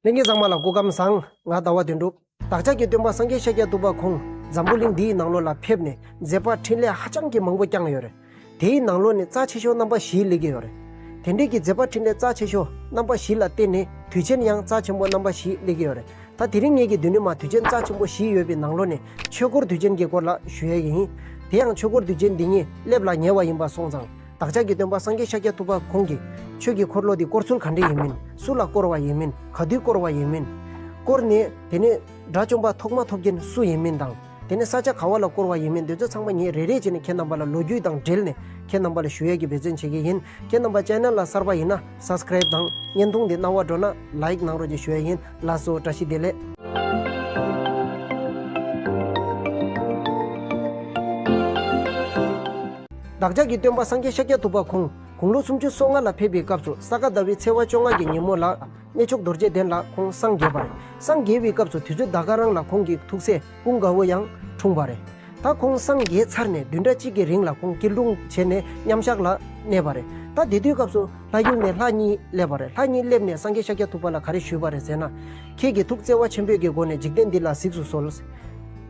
ལྷན་སྐྱེས་གཙང་མ་ལ་སྐུ་ཁམས་བཟང། ངག་དང་བ་དན་འགྲུབ། བདག་ཅག་གི་སྟོན་པ་སངས་རྒྱས་ཤཱཀྱ་ཐུབ་པ་ཁོང་འཛམ་བུ་གླིང་འདི་ཡི་ནང་ལོགས་ལ་ཕེབས་ནས་མཛད་པར་འཕྲིན་ལས་ཧ་ཅང་གི་མང་པོ་བསྐྱངས་ཡོད། དེའི་ནང་ལོགས་ནས་རྩ་ཆེ་ཤོས་རྣམ་པ་བཞིའི་ལས་ཀྱི་ཡོད། དེ་འབྲེལ་གྱི་མཛད་པར་འཕྲིན་ལས་རྩ་ཆེ་ཤོས་རྣམ་པ་བཞི་ལ་བརྟེན་ནས་དུས་ཆེན་ཡང་རྩ་ཆེན་པོ་རྣམ་པ་བཞིའི་ལས་ཀྱི་ཡོད། ད་དེ་རིང་ངེད་ཀྱི་མདུན་ནས་མ་དུས་ཆེན་རྩ་ཆེན་པོ་བཞི་ཡོད་པའི་ནང་ལོགས་ནས་ཆོས་འཁོར་དུས་ཆེན་གྱི་སྐོར་ལ་ཞུ་ཡས་ཡིན། དེ་ཡང་ཆོས་འཁོར་དུས་ཆེན་འདི་ཉིད་སླེབས་ལ་ཉེ་བ་ཡིན་པ་སོང་ཙང། བདག་ཅག་གི་སྟོན་པ་སངས་རྒྱས་ཤཱཀྱ་ཐུབ་པ་ཁོང་གིས། ཆོས་ཀྱི་འཁོར་ལོ་འདི་བསྐོར་ཚུལ་ག་འདྲ་ཡིན་མིན། སུ་ལ་བསྐོར་བ་ཡིན་མིན་ག་དུས་བསྐོར་བ་ཡིན་མིན། བསྐོར་ནས་དེ་ནས། དགྲ་བཅོམ་པ་ཐོག་མ་ཐོབ་མཁན་སུ་ཡིན་མིན་དང། དེ་ནས་ས་ཆ་ག་བ་ལ་བསྐོར་བ་ཡིན་མིན་དེ་ཚོ་ཚང་མ་ངས་རེ་རེ་བྱས་ནས་ཁྱེད་རྣམ་པ་ལ་ལོ་རྒྱུས་དང་འབྲེལ་ནས་ཁྱེད་རྣམ་པ་ལ་ཞུ་ཡས་ཀྱི་འབད་བརྩོན་བྱེད་ཀྱི་ཡིན་ཁྱེད་རྣམ་པ channel ལ་གསར་པ་ཡིན་ན Subscribe དང་བརྙན་ཐུང་འདི་རྣ་བར་འགྲོ་ན Like གནང་རོགས་ཀྱི་ཞུ་ཡས་ཡིན། བླ་སྲོག་བཀྲ་ཤིས་བདེ་ལེགས། བདག་ཅག་གི་སྟོན་པ་སངས་རྒྱས་ཤཱཀྱ་ཐུབ་པ་ཁོང་དགུང་ལོ་སུམ་ཅུ་སོ་ལྔ་ལ་ཕེབས་པའི་སྐབས་སུ་ས་ག་ཟླ་བའི་ཚེས་བ་བཅོ་ལྔ་གྱི་ཉིན་མོ་ལ། གནས་མཆོག་རྡོ་རྗེ་གདན་ལ་ཁོང་སངས་རྒྱས་པ་རེད། སངས་རྒྱས་པའི་སྐབས་སུ་དུས་ཚོད་ཟླ་དགའ་རང་ལ་ཁོང་གིས་ཐུགས་སྲས། སྤུན་དགའ་བོ་ཡང་འཁྲུངས་པ་རེད། ད་ཁོང་སངས་རྒྱས་ཚར་ནས་བདུན་ཕྲག་གཅིག་གི་རིང་ལ་ཁོང་སྐྱིལ་ཀྲུང་བྱས་ནས་མཉམ་བཞག་ལ་གནས་པ་རེད། ད་དེ་དུས་སྐབས་སུ་ལྷ་ཡུལ་ནས་ལྷ་གཉིས་སླེབས་པ་རེད། ལྷ་གཉིས་སླེབས་ནས་སངས་རྒྱས་ཤཱཀྱ་ཐུབ་པ་ལ་ག་རེ་ཞུས་པ་རེད་ཟེར་ན། ཁྱེད་ཀྱིས་ཐུགས་བརྩེ་བ་ཆེན་པོས་ཀྱི་སྒོ་ནས་འཇིག་རྟེན་འདི་ལ་གཟིགས་སུ་གསོལ།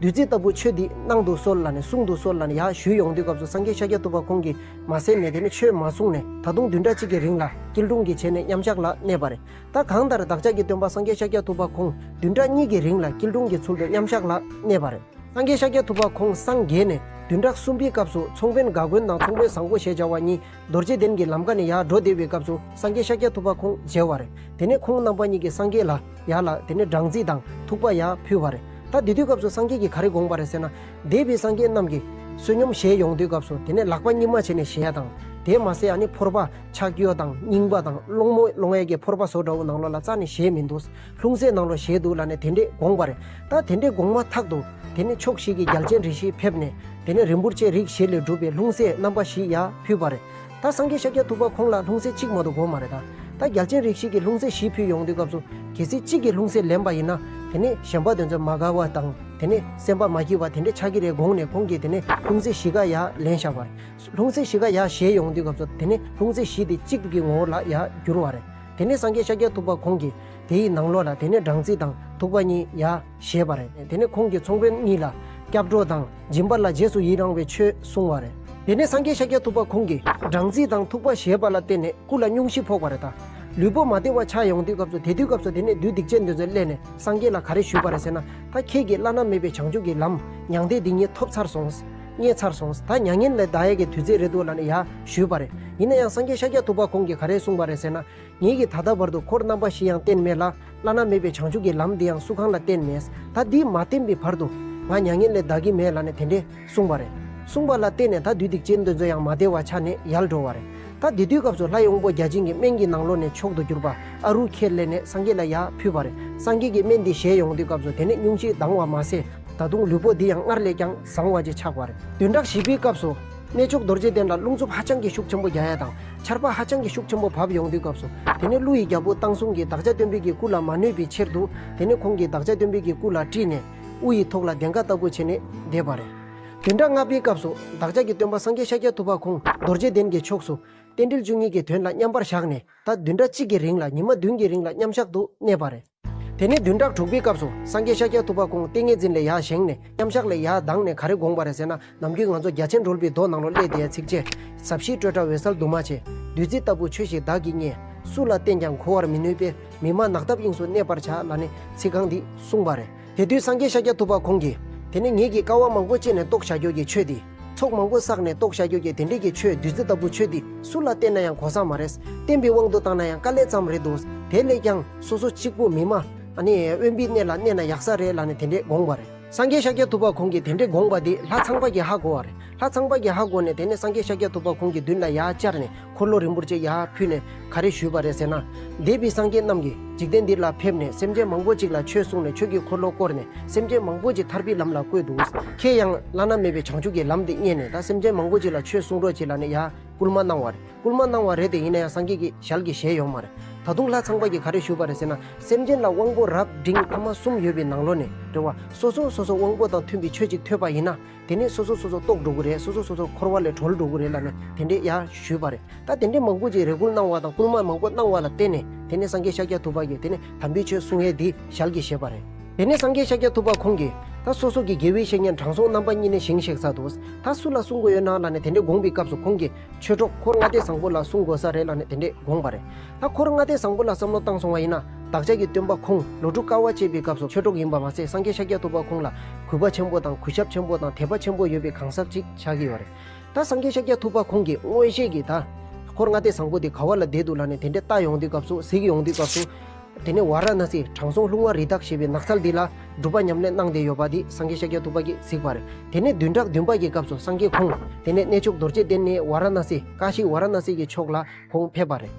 བདུད་རྩི་ལྟ་བུ་ཆོས་འདི་གནང་དུ་གསོལ་ལ་ནས་གསུང་དུ་གསོལ་ལ་ནས་ཡ་ཞུས་ཡོང་དུས་སྐབས་སུ་སངས་རྒྱས་ཤཱཀྱ་ཐུབ་པ་ཁོང་གིས་མ་གསན་ནས་དེ་ནི་ཆོས་མ་གསུངས་ནས་ད་དུང་བདུན་ཕྲག་གཅིག་གི་རིང་ལ་སྐྱིལ་ཀྲུང་གིས་བྱས་ནས་མཉམ་བཞག་ལ་གནས་པ་རེད། ད་གང་ལྟར་བདག་ཅག་གི་སྟོན་པ་སངས་རྒྱས་ཤཱཀྱ་ཐུབ་པ་ཁོང་བདུན་ཕྲག་གཉིས་ཀྱི་རིང་ལ་སྐྱིལ་ཀྲུང་གི་ཚུལ་དུ་མཉམ་བཞག་ལ་གནས་པ་རེད། སངས་རྒྱས་ཤཱཀྱ་ཐུབ་པ་ཁོང་སངས་རྒྱས་ནས་བདུན་ཕྲག་གསུམ་པའི་སྐབས་སུ་ཚོང་དཔོན་དགའ་མགོན་དང་ཚོང་དཔོན་བཟང་པོ་ཞེས་བྱ་བ་གཉིས་རྡོ་རྗེ་གདན་གྱི་ལམ་ཀ་ནས་ཡར་འགྲོ་བསྡད་པའི་སྐབས་སུ་སངས་རྒྱས་ཤཱཀྱ་ཐུབ་པ་ཁོང་མཇལ་བ་རེད། དེ་ནས་ཁོང་རྣམ་པ་གཉིས་ཀྱིས་སངས་རྒྱས་ལ་ཡར་ལ་དེ་ནས་སྦྲང་རྩི་དང་ཐུག་པ་ཡར་ཕུལ་བ་རེད། ད་དེ་དུས་སྐབས་སུ་སངས་རྒྱས་ཀྱིས་ག་རེ་དགོངས་པ་རེད་ཟེར་ན། འདས་པའི་སངས་རྒྱས་རྣམས་ཀྱིས་བསོད་སྙོམས་བཞེས་ཡོང་དུས་སྐབས་སུ་དེ་ནས་ལག་པ་གཉིས་མ་བྱས་ནས་བཞེས་ཡ་དང། དེས་མ་ཟད་ཨ་ནི་ཕོར་པ། ཕྱག་གཡོ་དང་རྙིང་པ་དང་སློང་མོ་སློང་བའི་གྱི་ཕོར་པ་སོགས་འདྲ་བོ་ནང་ལོགས་ལ་རྩ་ནས་བཞེས་མི་འདུག་ལྷུང་བཟེད་ནང་ལོགས་བཞེས་འདུག་ལ་ནས་དེ་འདྲས་དགོངས་པ་རེད་ད་དེ་འདྲས་དགོངས་མ་ཐག་ཏུ་དེ་ནས་ཕྱོགས་བཞི་གི་རྒྱལ་ཆེན་རེ་བཞི་ཕེབས་ནས་དེ་ནས་རིན་པོར་ཆེ་རིགས་བཞི་ལས་གྲུབ་པའི་ལྷུང་བཟེད་རྣམ་པ་བཞི་ཡ་ཕུལ་བ་རེད་ད་སངས་རྒྱས་ཤཱཀྱ་ཐུབ་པ་ཁོང་ལ་ལྷུང་བཟེད་གཅིག་མ་གཏོགས་དགོས་མ་རེད་ད་ད་རྒྱལ་ཆེན་རིགས་བཞི་གི་ལྷུང་བཟེད་བཞི་ཕུལ་ཡོང་དུས་སྐབས་སུ་གལ་སྲིད་གཅིག་གི་ལྷུང་བཟེད་ལེན་པ་ཡིན་ན་དེ་ནས་གཞན་པ་དེ་ཚོ་མ་དགའ་བ་དང་དེ་ནས་སེམས་པ་མ་སྐྱིད་པ་དེ་འདྲས་ཆགས་ཀྱི་རེད་དགོངས་ནས་ཁོང་གིས་དེ་ནས་ལྷུང་བཟེད་བཞི་ཀ་ཡ་ལེན་བཞག་པ་རེད། ལྷུང་བཟེད་བཞི་ཀ་ཡང་བཞེས་ཡོང་དུས་སྐབས་སུ་དེ་ནི་ལྷུང་བཟེད་བཞི་དེ་གཅིག་གི་ངོ་བོ་ལ་ཡང་འགྱུར་བ་རེད། དེ་ནི་སངས་རྒྱས་ཤཱཀྱ་ཐུབ་པ་ཁོང་གིས་དེའི་ནང་ལོགས་ལ་དེ་ནི་སྦྲང་རྩི་དང་ཐུག་པ་གཉིས་ཡང་བཞེས་པ་རེད། དེ་ནི་ཁོང་གིས་ཚོང་དཔོན་གཉིས་ལ་སྐྱབས་འགྲོ་དང་སྦྱིན་པ་ལ་རྗེས་སུ་ཡི་རང་བའི་ཆོས་གསུངས་བ་རེད། དེ་ནི་སངས་རྒྱས་ཤཱཀྱ་ཐུབ་པ་ཁོང་གིས་སྦྲང་རྩི་དང་ཐུག་པ་བཞེས་པ་ལ་བརྟེན་ནས་སྐུ་ལ་སྙུང་གཞི་ཕོག་པ་རེད་ད། ལུས་པོ་མ་བདེ་བ་ཆགས་ཡོང་དུས་སྐབས་སུ་དེ་དུས་སྐབས་སུ་དེ་ནི་བདུད་སྡིག་ཅན་འདི་ཚོས་གླས་ནས་སངས་རྒྱས་ལ་ག་རེ་ཞུས་པ་རེད་ཟེར་ན་ད་ཁྱེད་ཀྱིས་བླ་ན་མེད་པའི་བྱང་ཆུབ་ཀྱི་ལམ་མྱང་འདས་འདི་ཉིད་ཐོབ་ཚར་སོང། རྙེད་ཚར་སོང། ད་མྱ་ངན་ལས་འདའ་ཡས་ཀྱི་དུས་ཚོད་རེད་འདུག་ལ་ནི་ཡ། ཞུས་པ་རེད། ཡིན་ན་ཡང་སངས་རྒྱས་ཤཱཀྱ་ཐུབ་པ་ཁོང་གིས་ག་རེ་གསུངས་པ་རེད་ཟེར་ན། ངེད་ཀྱིས་ད་ལྟ་བར་དུ་འཁོར་རྣམ་པ་བཞི་ཡང་བསྟན་མེད་ལ། བླ་ན་མེད་པའི་བྱང་ཆུབ་ཀྱི་ལམ་འདི་ཡང་སུ་གང་ལ་བསྟན་མེད། ད་འདི་མ་བསྟན་པའི་བར་དུ། ང་མྱ་ངན་ལས་འདའ་གི་མེད་ལ་ནི་དེ་འདྲས་གསུངས་པ་རེད། གསུངས་པ་ལ་བརྟེན་ནས་ད་དུས་སྡིག་ཅན་འདོད་ཚོད་ཡང་མ་བདེ་བ་ཆགས་ནས་ཡལ་འགྲོ་བ་རེད། ད་དེ་དུས་སྐབས་སུ་ལྷ་ཡོངས་པོ་བརྒྱ་བྱིན་གྱི་སྨན་གྱི་ནང་ལོགས་ནས་མཆོག་ཏུ་གྱུར་པ་ཨ་རུ་ཁས་ལེན་ནས་སངས་རྒྱས་ལ་ཡར་ཕུལ་བ་རེད། སངས་རྒྱས་ཀྱིས་སྨན་འདི་བཞེས་ཡོང་དུས་སྐབས་སུ་དེ་ནི་སྙུང་གཞིའི་སྡང་བ་མ་ཟད། ད་དུང་ལུས་པོ་འདི་ཡང་སྔར་ལས་ཀྱང། བཟང་བ་བཅས་ཆགས་པ་རེད། བདུན་ཕྲག་བཞི་པའི་སྐབས་སུ། གནས་མཆོག་རྡོ་རྗེ་གདན་ལ་རླུང་འཚུབ་ཧ་ཅང་གི་ཤུགས་ཆེན་པོ་རྒྱ་ཡལ་དང་ཆར་པ་ཧ་ཅང་གི་ཤུགས་ཆེན་པོ་བབས་ཡོང་དུས་སྐབས་སུ། དེ་ནས་ཀླུ་ཡི་རྒྱལ་པོ་སྟག་ཟུང་གིས་བདག་ཅག་སྟོན་འབུལ་གྱི་སྐུ་ལ་མ་གནོད་པའི་ཕྱིར་དུ། དེ་ནས་ཁོང་གིས་བདག་ཅག་སྟོན་འབུལ་གྱི་སྐུ་ལ་དཀྲིས་ནས། དབུ་ཡི་ཐོག་ལ་གདན་ཁ་ལྟ་བུ་བྱས་ནས་བསྡད་པ་རེད། བདུན་ཕྲག་ལྔ་པའི་སྐབས་སུ། བདག་ཅག་གི་སྟོན་པ་སངས་རྒྱས་ཤཱཀྱ་ཐུབ་པ་ཁོང་རྡོ་རྗེ་གདན་གྱི་ཕྱོགས་སུ། རྟེན་འབྲེལ་བཅུ་གཉིས་ཀྱི་དོན་ལ་མཉམ་པར་བཞག་ནས་ད་བདུན་ཕྲག་གཅིག་གི་རིང་ལ་ཉི་མ་བདུན་གྱི་རིང་ལ་མཉམ་བཞག་ཏུ་གནས་པ་རེད། དེ་ནས་བདུན་ཕྲག་དྲུག་པའི་སྐབས་སུ་སངས་རྒྱས་ཤཱཀྱ་ཐུབ་པ་ཁོང་ཏིང་ངེ་འཛིན་ལས་ཡར་བཞེངས་ནས་མཉམ་གཞག་ལས་ཡར་ལྡང་ནས་ག་རེ་དགོངས་པ་རེད་ཟེར་ན་ནམ་རྒྱུན་ང་ཚོ་རྒྱ་ཆེན་སྒྲོལ་པའི་མདོ་ནང་ལོ་ཀླད་དེའི་ཚིགས་བཅད། ཟབ་ཞིའི་སྤྲོས་བྲལ་འོད་གསལ་འདུ་མ་བྱས། བདུད་རྩི་ལྟ་བུ་ཆོས་ཤིག་བདག་གིས་རྙེད། སུ་ལ་བསྟན་ཀྱང་གོ་བར་མི་ནུས་པས། མི་མ་ནག་ཐབས་དབྱིངས་སུ་གནས་པར་བྱ་ལ་ནི། ཚིག་རྐང་འདི་གསུངས་པ་རེད། དེ་དུས་སངས་རྒྱས་ཤཱཀྱ་ཐུབ་པ་ཁོང་གིས། དེ་ནི་ངེད་ཀྱིས་དཀའ་བ་མང་པོ་སྤྱད་ནས་རྟོགས་བྱ་ཁྱོད་ཀྱིས་ཆོས་འདི། ཚོགས་མང་པོ་བསགས་ནས་རྟོགས་བྱ་རྒྱུད་ཀྱི་དེ་འབྲེལ་གྱི་ཆོས་བདུད་རྩི་ལྟ་བུ་ཆོས་འདི་སུ་ལ་བསྟན་ན་ཡང་གོ་ས་མ་རེད། བསྟན་པའི་དབང་དུ་བཏང་ན་ཡང་དཀའ་ལས་ཙམ་རེད་འདུག་དེ་ལས་ཀྱང་སོ་སོ་གཅིག་པུ་མི་སྨྲ། ནི། དབེན་པའི་གནས་ལ་གནས་ན་ཡག་ས་རེད་ལ་ནི་དེ་འདྲས་དགོངས་པ་རེད། སངས་རྒྱས་ཤཱཀྱ་ཐུབ་པ་ཁོང་གིས་དེ་འདྲས་དགོངས་པ་དེ་ལྷ་ཚངས་པ་གྱིས་ཧ་གོ་བ་རེད། ལྷ་ཚངས་པ་གྱིས་ཧ་གོ་ནས་དེ་ནས་སངས་རྒྱས་ཤཱཀྱ་ཐུབ་པ་ཁོང་གི་མདུན་ལ་ཡར་བཅར་ནས་འཁོར་ལོ་རིང་པོར་བཅས་ཡར་ཕུད་ནས་ག་རེ་ཞུས་པ་རེད་ཟེར་ན། འདས་པའི་སངས་རྒྱས་རྣམས་ཀྱིས་འཇིག་རྟེན་འདི་ལ་ཕེབས་ནས་སེམས་ཅན་མང་པོ་ཅིག་ལ་ཆོས་གསུངས་ནས་ཆོས་ཀྱི་འཁོར་ལོ་བསྐོར་ནས་སེམས་ཅན་མང་པོ་ཅིག་ཐར་པའི་ལམ་ལ་བཀོད་འདུག་ཁྱེད་ཡང་བླ་ན་མེད་པའི་བྱང་ཆུབ་ཀྱི་ལམ་དེ་རྙེད་ནས་ད་སེམས་ཅན་མང་པོ་ཅིག་ལ་ཆོས་གསུང་རོགས་བྱེད་ལ་ནི་ཡར་བསྐུལ་མ་གནང་བ་རེད་བསྐུལ་མ་གནང་བ་རེད་དེ་ཡིན་ན་ཡང་སངས་རྒྱས་ཀྱི་ཞལ་གྱི་ཞལ་ཡོད་མ་རེད། ད་དུང་ལྷ་ཚངས་པ་གྱིས་ག་རེ་ཞུས་པ་རེད་ཟེར་ན། སེམས་ཅན་ལ་དབང་པོ་རབ་འབྲིང་ཐ་མ་གསུམ་ཡོད་པའི་ནང་ལོ་ནས་རེ་བ་སོ་སོ་སོ་སོ་དབང་པོ་དང་མཐུན་པའི་ཆོས་ཅིག་ཐོས་པ་ཡིན་ན། དེ་ནས་སོ་སོ་སོ་སོ་ལྟོགས་འགྲོ་གི་རེད་སོ་སོ་སོ་སོ་འཁོར་བ་ལས་གྲོལ་འགྲོ་གི་རེད་ལ་ནི་དེ་འདྲའི་ཡ་ཞུས་པ་རེད་ད་དེ་འདྲའི་མང་པོ་ཅིག་རེ་སྐུལ་གནང་བ་དང་སྐུལ་མ་མང་པོ་གནང་བ་ལ་བརྟེན་ནས་དེ་ནས་སངས་རྒྱས་ཤཱཀྱ་ཐུབ་པ་གིས་དེ་ནི་དམ་པའི་ཆོས་གསུང་ཨེ་འདི་ཞལ་གྱིས་བཞེས་པ་རེད། དེ་ནས་སངས་རྒྱས་ཤཱཀྱ་ཐུབ་པ་ཁོང་གིས། ད་སོ་སོ་ཀྱི་དགེ་བའི་བཤེས་གཉེན་དྲང་སྲོང་རྣམ་པ་གཉིས་ནི་བཞེངས་གཤེགས་ས་འདུག་ད་སུ་ལ་གསུང་དགོས་ཡོད་ན་ལ་ནི་དེ་འདྲའི་དགོངས་པའི་སྐབས་སུ་ཁོང་གིས། ཆོས་གྲོགས་འཁོར་ལྔ་སྡེ་བཟང་པོ་ལ་གསུང་དགོས་ས་རེད་ལ་ནི་དེ་འདྲས་དགོངས་པ་རེད། ད་འཁོར་ལྔ་སྡེ་བཟང་པོ་ལ་བསམ་བློ་བཏང་སོང་བ་ཡིན་ན་བདག་ཅག་གི་སྟོན་པ་ཁོང་ལོ་དྲུག་དཀའ་བ་སྤྱད་པའི་སྐབས་སུ་ཆོས་གྲོགས་ཡིན་པ་མ་ཟད་སངས་རྒྱས་ཤཱཀྱ་ཐུབ་པ་ཁོང་ལ་གུས་པ་ཆེན་པོ་དང་གུས་ཞབས་ཆེན་པོ་དང་དད་པ་ཆེན་པོ་ཡོད་པའི་གང་ཟག་ཅིག་ཆགས་ཀྱི་ཡོད་རེད། ད་སངས་རྒྱས་ཤཱཀྱ་ཐུབ་པ་ཁོང་གིས་མངོན་ཤེས་ཀྱིས་ད་འཁོར་ལྔ་སྡེ་བཟང་པོ་འདི་ག་བ་ལ་བསྡད་འདུག་ལ་ནི་དེ་འདྲས་བལྟ་ཡོང་དུས་སྐབས་སུ་གཟིགས་ཡོང་དུས་སྐབས་སུ། དེ་ནས་ཝཱ་ར་ཎཱ་སིའི་དྲང་སྲོང་ལྷུང་བ་རི་དྭགས་ཞེས་པའི་ནགས་ཚལ་འདི་ལ་སྒྲུབ་པ་ཉམས་ལེན་གནང་བསྡད་ཡོད་པ་འདི་སངས་རྒྱས་ཤཱཀྱ་ཐུབ་པ་གིས་གཟིགས་པ་རེད། དེ་ནས་བདུན་ཕྲག་བདུན་པ་ཡི་སྐབས་སུ་སངས་རྒྱས་ཁོང་དེ་ནས་གནས་མཆོག་རྡོ་རྗེ་གདན་ནས་ཝཱ་ར་ཎཱ་སི་ཀ་ཤི་ཝཱ་ར་ཎཱ་སི་ཀའི་ཕྱོགས་ལ་ཁོང་ཕེབས་པ་རེད།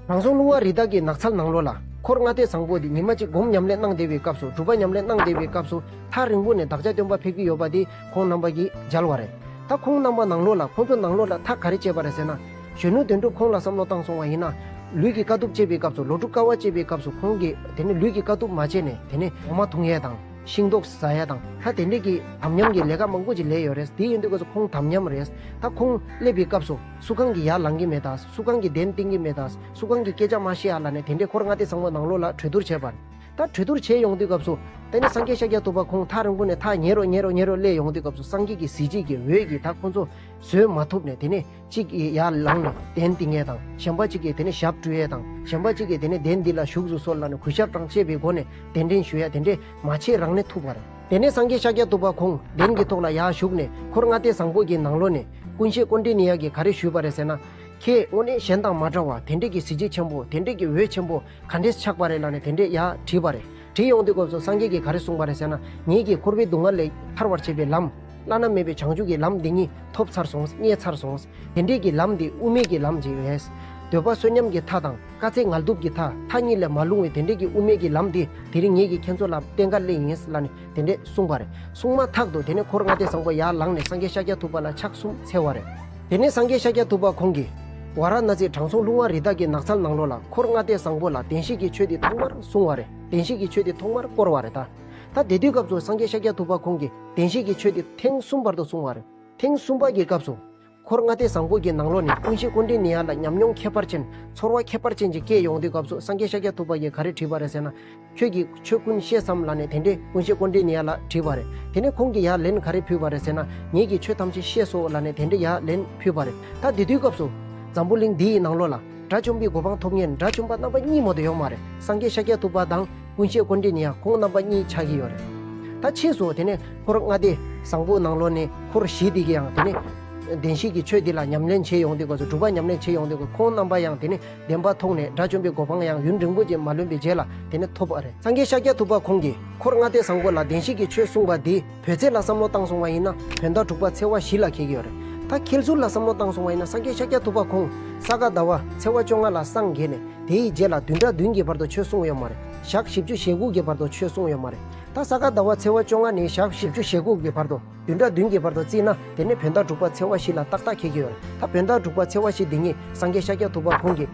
དྲང་སྲོང་ལྷུང་བ་རི་དྭགས་ཀྱི་ནགས་ཚལ་ནང་ལོགས་ལ་འཁོར་ལྔ་སྡེ་བཟང་པོ་འདི་ཉི་མ་གཅིག་བསྒོམ་ཉམས་ལེན་གནང་བསྡད་པའི་སྐབས་སུ་སྒྲུབ་པ་ཉམས་ལེན་གནང་བསྡད་པའི་སྐབས་སུ་ཐག་རིང་པོ་ནས་བདག་ཅག་སྟོན་པ་ཕེབས་ཀྱི་ཡོད་པ་འདི་ཁོང་རྣམ་པ་གིས་མཇལ་བ་རེད། ད་ཁོང་རྣམ་པ་ནང་ལོགས་ལ་ཁོང་ཚོ་ནང་ལོགས་ལ་ཐག་ག་རེ་བཅད་པ་རེད་ཟེར་ན། གཞོན་ནུ་དོན་གྲུབ་ཁོང་ལ་བསམ་བློ་བཏང་སོང་བ་ཡིན་ན། ལུས་ཀྱི་དཀའ་ཐུབ་སྤྱད་པའི་སྐབས་སུ་ལོ་དྲུག་དཀའ་བ་སྤྱད་པའི་སྐབས་སུ་ཁོང་གིས་དེ་ནི་ལུས་ཀྱི་དཀའ་ཐུབ་མ་སྤྱད་ནས་དེ་ནི་འོ་མ་འཐུང་ཡས་དང། ཤིང་ཏོག་ཟ་ཡས་དང་ད་དེ་འདྲས་ཀྱི་དམ་ཉམས་ཀྱི་ལས་ཀ་མང་པོ་ཅིག་ལས་ཡོད་རེད་དེ་ཡིན་དུས་སྐབས་སུ་ཁོང་དམ་ཉམས་རེད། ད་ཁོང་སླེབས་པའི་སྐབས་སུ་སུ་གང་གི་ཡར་ལངས་ཀྱི་མེད་དང་སུ་གང་གི་གདན་བཏིང་གི་མེད་དང་སུ་གང་གི་སྐད་ཆ་མ་ཤེས་ཡ་ལ་ནས་དེ་འདྲས་ཁོར་མངའ་སྡེ་བཟང་བོ་ནང་ལོགས་ལ་གྲོས་བསྡུར་བྱས་པ། ད་གྲོས་བསྡུར་བྱས་ཡོང་དུས་སྐབས་སུ། ད་ནི་སངས་རྒྱས་ཤཱཀྱ་ཐུབ་པ་ཁོང་ཐག་རིང་པོ་ནས་ཐག་ཉེ་རོ་ཉེ་རོ་ཉེ་རོ་སླེབས་ཡོང་དུས་སྐབས་སུ་སངས་རྒྱས་ཀྱི་གཟི་བརྗིད་ཀྱི་འོད་ཀྱིས་ད་ཁོང་ཚོ་བཟོད་མ་ཐུབ་ནས་དེ་ནི་གཅིག་གིས་ཡར་ལངས་ནས་གདན་འདི་ངས་དང་གཞན་པ་གཅིག་གིས་དེ་ནས་ཞབས་བཀྲུ་ཡས་དང་གཞན་པ་གཅིག་གིས་དེ་ནས་གདན་འདི་ལ་བཞུགས་སུ་གསོལ་ལ་ནི་གུས་ཞབས་དང་བཅས་པའི་སྒོ་ནས་གདན་འདྲེན་ཞུ་ཡ་དེ་འདྲས་མ་བྱས་རང་ནས་ཐུབ་བར། དེ་ནས་སངས་རྒྱས་ཤཱཀྱ་ཐུབ་པ་ཁོང་གདན་གྱི་ཐོག་ལ་ཡར་བཞུགས་ནས་འཁོར་ལྔ་སྟེ་བཟང་པོ་གྱི་ནང་ལོ་ནས་ཀུན་བྱེད་ཀོ་འདྲེ་ནི་ཡག་གིས་ག་རེ་ཞུས་པ་རེད་ཟེར་ན། ཁྱེད་དངོས་གནས་གཞན་དང་མ་འདྲ་བ་དེ་འདྲས་ཀྱི་གཟི་བརྗིད་ཆེན་པོ་དེ་འདྲས་ཀྱི་འོད་ཆེན་པོ་ག་འདྲས་ཆགས་པ་རེད་ལ་ནི་དེ་འདྲས་ཡར་བྲིས་པ་རེད། དྲི་ཡོང་དུས་སྐབས་སུ་སངས་རྒྱས་ཀྱིས་ག་རེ་གསུངས་པ་རེད་ཟེར་ན། ཉིད་ཀྱིས་འཁོར་བའི་སྡུག་བསྔལ་ལས་ཐར་བར་བྱེད་པའི་ལམ། བླ་ན་མེད་པའི་བྱང་ཆུབ་ཀྱི་ལམ་འདི་ཉིད་ཐོབ་ཚར་སོང་རྙེད་ཚར་སོང། དེ་འདྲིས་ཀྱི་ལམ་འདི་དབུ་མེད་ཀྱི་ལམ་ཅིག་རེད། འདོད་པ་བསོད་ཉམས་ཀྱི་མཐའ་དང་དཀའ་ཚེགས་ངལ་དུབ་ཀྱི་མཐའ་མཐའ་གཉིས་ལས་མ་ལྷུང་བའི་དེ་འདྲིས་ཀྱི་དབུ་མེད་ཀྱི་ལམ་འདི་དེ་རིང་ངེད་ཀྱིས་ཁྱེད་ཚོ་ལ་བསྟན་ག་ལེ་ཡིན་ལ་ནི་དེ་འདྲས་གསུངས་པ་རེད་གསུངས་མ་ཐག་ཏུ་དེ་ནས་འཁོར་ལྔ་སྡེ་བཟང་པོ་ཡར་ལངས་ནས་སངས་རྒྱས་ཤཱཀྱ་ཐུབ་པ་ལ་ཕྱག་གསུམ་འཚལ་བ་རེད། དེ་ནས་སངས་རྒྱས་ཤཱཀྱ་ཐུབ་པ་ཁོང་གིས། ཝཱ་ར་ན་སིའི་དྲང་སྲོང་ལུགས་མངའ་རིས་དག་གི་ནགས་ཚལ་ནང་ལོགས་ལ་འཁོར་ལྔ་སྟེ་བཟང་པོ་ལ་བདེན་བཞི་ཀྱི་ཆོས་འདི་ཐོག་མར་གསུངས་བ་རེད་བདེན་བཞི་ཀྱི་ཆོས་འདི་ཐོག་མར་བསྐོར་བ་རེད་ད། ད་དེ་དུས་སྐབས་སུ་སངས་རྒྱས་ཤཱཀྱ་ཐུབ་པ་ཁོང་གིས་བདེན་བཞི་ཀྱི་ཆོས་འདི་ཐེངས་གསུམ་བར་དུ་གསུངས་བ་རེད། ཐེངས་གསུམ་པ་ཀྱི་སྐབས་སུ། འཁོར་ལྔ་སྟེ་བཟང་པོ་ཀྱི་ནང་ལོགས་ནས་ཀུན་གཞི་ཀུན་དྲིན་ནི་ཡར་ལ་ཉམས་མྱོང་ཁྱད་པར་ཅན། ཚོར་བ་ཁྱད་པར་ཅན་གྱི་སྐད་ཡོང་དུས་སྐབས་སུ་སངས་རྒྱས་ཤཱཀྱ་ཐུབ་པ་ཀྱིས་ག་རེ་བྲིས་པ་རེད་ཟེར་ན། ཁྱོད་ཀྱིས་ཆོས་ཀུན་ཤེས་སམ་ལ་ནས་དེ་འདྲའི་ཀུན་ཤེས་ཀོ་འདྲེ་ནི་ཡ་ལ་དྲིས་པ་རེད་དེ་ནས་ཁོང་གིས་ཡ་ལན་ག་རེ་ཕུལ་བ་རེད་ཟེར་ན་ངེད་ཀྱིས་ཆོས་ཐམས་ཅད་ཤེས་སོ་ལ་ནས་དེ་འདྲའི་ཡ་ལན་ཕུལ་བ་རེད་ད་དེ་དུས་སྐབས་སུ། འཛམ་བུ་གླིང་འདི་ཡི་ནང་ལོགས་ལ་དགྲ་བཅོམ་པའི་གོ་འཕང་ཐོབ་ངེས་དགྲ་བཅོམ་པ་རྣམ་པ་གཉིས་མོ་དེ་ཡོག་མ་རེད་སངས་རྒྱས་ཤཱཀྱ་ཐུབ་པ་དང་ཀུན་ཤེས་ཀོ་འདྲེ་ནི་ཡ་ཁོང་རྣམ་པ་གཉིས་ཆགས་ཀྱི་ཡོག་རེད་ད་ཕྱིས་སུ་དེ་ནས་འཁོར་ལྔ་སྡེ་བཟང་པོ་ནང་ལོགས་ནས་འཁོར་བཞི་སྡེ་ཀྱིས་ཡང་དེ་ནས་བདེན་བཞི་ཀྱི་ཆོས་འདི་ལ་ཉམས་ལེན་བྱེད་ཡོང་དུས་སྐབས་སུ་སྒྲུབ་པ་ཉམས་ལེན་བྱེད་ཡོང་དུས་སྐབས་ཁོང་རྣམ་པ་ཡང་དེ་ནས་བདེན་པ་མཐོང་ནས་དགྲ་བཅོམ་པའི་གོ་འཕང་ཡང་ཡུན་རིང་པོ་རྗེས་མ་ལོན་པའི་རྗེས་ལ་དེ་ནི་ཐོབ་པ་རེད། སངས་རྒྱས་ཤཱཀྱ་ཐུབ་པ་ཁོང་གིས་འཁོར་ལྔ་སྟེ་བཟང་པོ་ལ་བདེན་བཞི་གི་ཆོས་གསུངས་པ་འདིས་བོད་ཚེས་ལ་བསམ་བློ་བཏང་སོང་བ་ཡིན་ན་བོད་ཟླ་དྲུག་པ་ཚེས་བ་བཞི་ལ་ཁེལ་གྱི་ཡོད་རེད། ད་ཁེལ་ཟུར་ལ་བསམ་བློ་བཏང་སོང་བ་ཡིན་ན་སངས་རྒྱས་ཤཱཀྱ་ཐུབ་པ་ཁོང་ས་ག་ཟླ་བ་ཚེས་བ་བཅོ་ལྔ་ལ་སངས་རྒྱས་ནས་དེའི་རྗེས་ལ་བདུན་ཕྲག་བདུན་གྱི་བར་དུ་ཆོས་གསུངས་ཡོད་མ་རེད་ཞག་བཞི་བཅུ་ཞེ་དགུ་གི་བར་དུ་ཆོས་གསུངས་ཡོད་མ་རེད་ད་ས་ག་ཟླ་བ་ཚེས་བ་བཅོ་ལྔ་ནས་ཞག་བཞི་བཅུ་ཞེ་དགུ་གི་བར་དུ། བདུན་དང་བདུན་གྱི་བར་དུ་བརྩིས་ན་དེ་ནི་བོན་བདག་འབྲུག་པ་ཚེ་བ་བཞི་ལ་ཏག་ཏག་ཁེལ་གྱི་ཡོད། ད་བོན་བདག་འབྲུག་པ་ཚེ་བ་བཞི་འདི་ཉིད་སངས་རྒྱས་ཤཱཀྱ་ཐུབ་པ་ཁོང་གིས།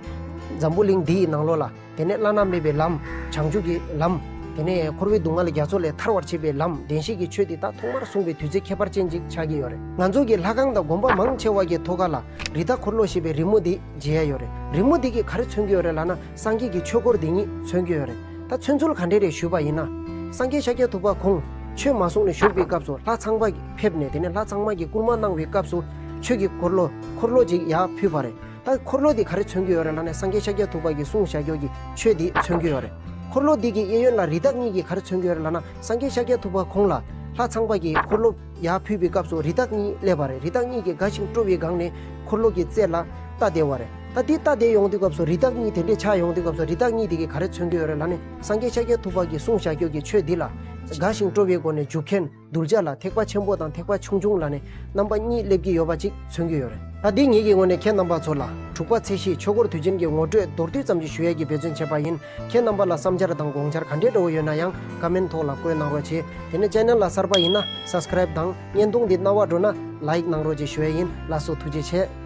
འཛམ་བུ་གླིང་འདི་ཡི་ནང་ལོགས་ལ། དེ་ནས་བླ་ན་མེད་པའི་ལམ། བྱང་ཆུབ་ཀྱི་ལམ། དེ་ནས་འཁོར་བའི་སྡུག་བསྔལ་རྒྱ་མཚོ་ལས་ཐར་བར་བྱེད་པའི་ལམ་བདེན་བཞི་གྱི་ཆོས་འདི་དག་ཐོག་མར་གསུངས་པའི་དུས་ཚོད་ཁྱད་པར་ཅན་ཅིག་ཆགས་ཀྱི་ཡོད་རེད། ང་ཚོ་གི་ལྷ་ཁང་དང་དགོན་པ་མང་ཆེ་བ་གྱི་ཐོག་ཁ་ལ། རི་དྭགས་འཁོར་ལོ་ཞེས་པའི་རི་མོ་དེ་མཇལ་ཡ་ཡོད་རེད། རི་མོ་དེ་གིས་ག་རེ་མཚོན་གྱི་ཡོད་རེད་ལ་ན། སངས་རྒྱས་ཀྱི་ཆོས་སྐོར་འདི་ཉིད་མཚོན་གྱི་ཡོད་རེད་ད་མཚོན་ཚུལ་ག་འདྲས་རེད་ཞུས་པ་ཡིན་ན། སངས་རྒྱས་ཤཱཀྱ་ཐུབ་པ་ཁོང་ཆོས་མ་གསུངས་ནས་བཞུགས་པའི་སྐབས་སུ་ལྷ་ཚངས་པ་ཕེབས་ནས་དེ་ནས་ལྷ་ཚངས་མ་གྱི་བསྐུར་མ་གནང་བའི་སྐབས་སུ་ཆོས་ཀྱི་འཁོར་ལོ་འཁོར་ལོ་ཅིག་ཡར་ཕུལ་བ་རེད་ད་འཁོར་ལོ་འདི་ག་རེ་མཚོན་གྱི་ཡོད་རེད་ལ་ནས་སངས་རྒྱས་ཤཱཀྱ་ཐུབ་པ་གྱི་གསུང་བྱ་རྒྱུད་ཀྱི་ཆོས་འདི་མཚོན་གྱི་ཡོད་རེད། འཁོར་ལོ་འདི་གི་གཡས་གཡོན་ལ་རི་དྭགས་གཉིས་ཀྱིས་ག་རེ་མཚོན་གྱི་ཡོད་རེད་ལ་ན་སངས་རྒྱས་ཤཱཀྱ་ཐུབ་པ་ཁོང་ལ་ལྷ་ཚངས་པ་གྱི་འཁོར་ལོ། ཡར་ཕུད་པའི་སྐབས་སུ་རི་དྭགས་གཉིས་སླེབས་པ་རེད་རི་དྭགས་གཉིས་ཀྱིས་དགའ་ཞིང་སྤྲོ་བའི་སྒང་ནས་འཁོར་ལོ་གྱི་རྩེ་ལ་རྟ་བསྡད་བ་རེད་ད་དེ་རྟ་བསྡད་ཡོང་དུས་སྐབས་སུ་རི་དྭགས་གཉིས་དེ་འདྲས་ཆགས་ཡོང་དུས་སྐབས་སུ་རི་དྭགས་གཉིས་དེ་གས་ག་རེ་མཚོན་གྱི་ཡོད་རེད་ལ་ནི་སངས་རྒྱས་ཤཱཀྱ་ཐུབ་དཔག་གིས་གསུང་བྱ་ཁྱོད་ཀྱིས་ཆོས་འདི་ལ་དགའ་ཞིང་སྤྲོ་བའི་སྒོ་ནས་འཇུག་མཁན་གདུལ་བྱ་ལ་ཐེག་པ་ཆེན་པོ་དང་ཐེག་པ་ཆུང་ཆུང་ལ་ནི་རྣམ་པ་གཉིས་སླེབས་ཀྱི་ཡོད་པ་ཅིག་མཚོན་གྱི་ཡོད་རེད། ད་དེ་ངེད་ཀྱི་ངོས་ནས་ཁྱེད་རྣམ་པ་ཚོ་ལ་དྲུག་པ་ཚེ་གཞིས་ཆོས་འཁོར་དུས་ཆེན་གྱི་ངོ་སྤྲོད་མདོར་བསྡུས་ཙམ་ཞིག་ཞུ་ཡས་ཀྱི་འབད་བརྩོན་བྱས་པ་ཡིན། ཁྱེད་རྣམ་པ་ལ་བསམ་འཆར་དང་དགོངས་འཆར་ག་འདྲའི་འདྲ་བོ་ཡོད་ན་ཡང་ཀ་མེན་ཐོག་ལ་བཀོད་གནང་རོགས་བྱས། དེ་ནས channel ལ་གསར་པ་ཡིན་ན Subscribe དང་བརྙན་ཐུང་འདི་རྣ་བར་འགྲོ་ན Like གནང་རོགས་བྱས་ཞུ་ཡ་ཡིན་བླ་སོ་ཐུགས་རྗེ་ཆེ།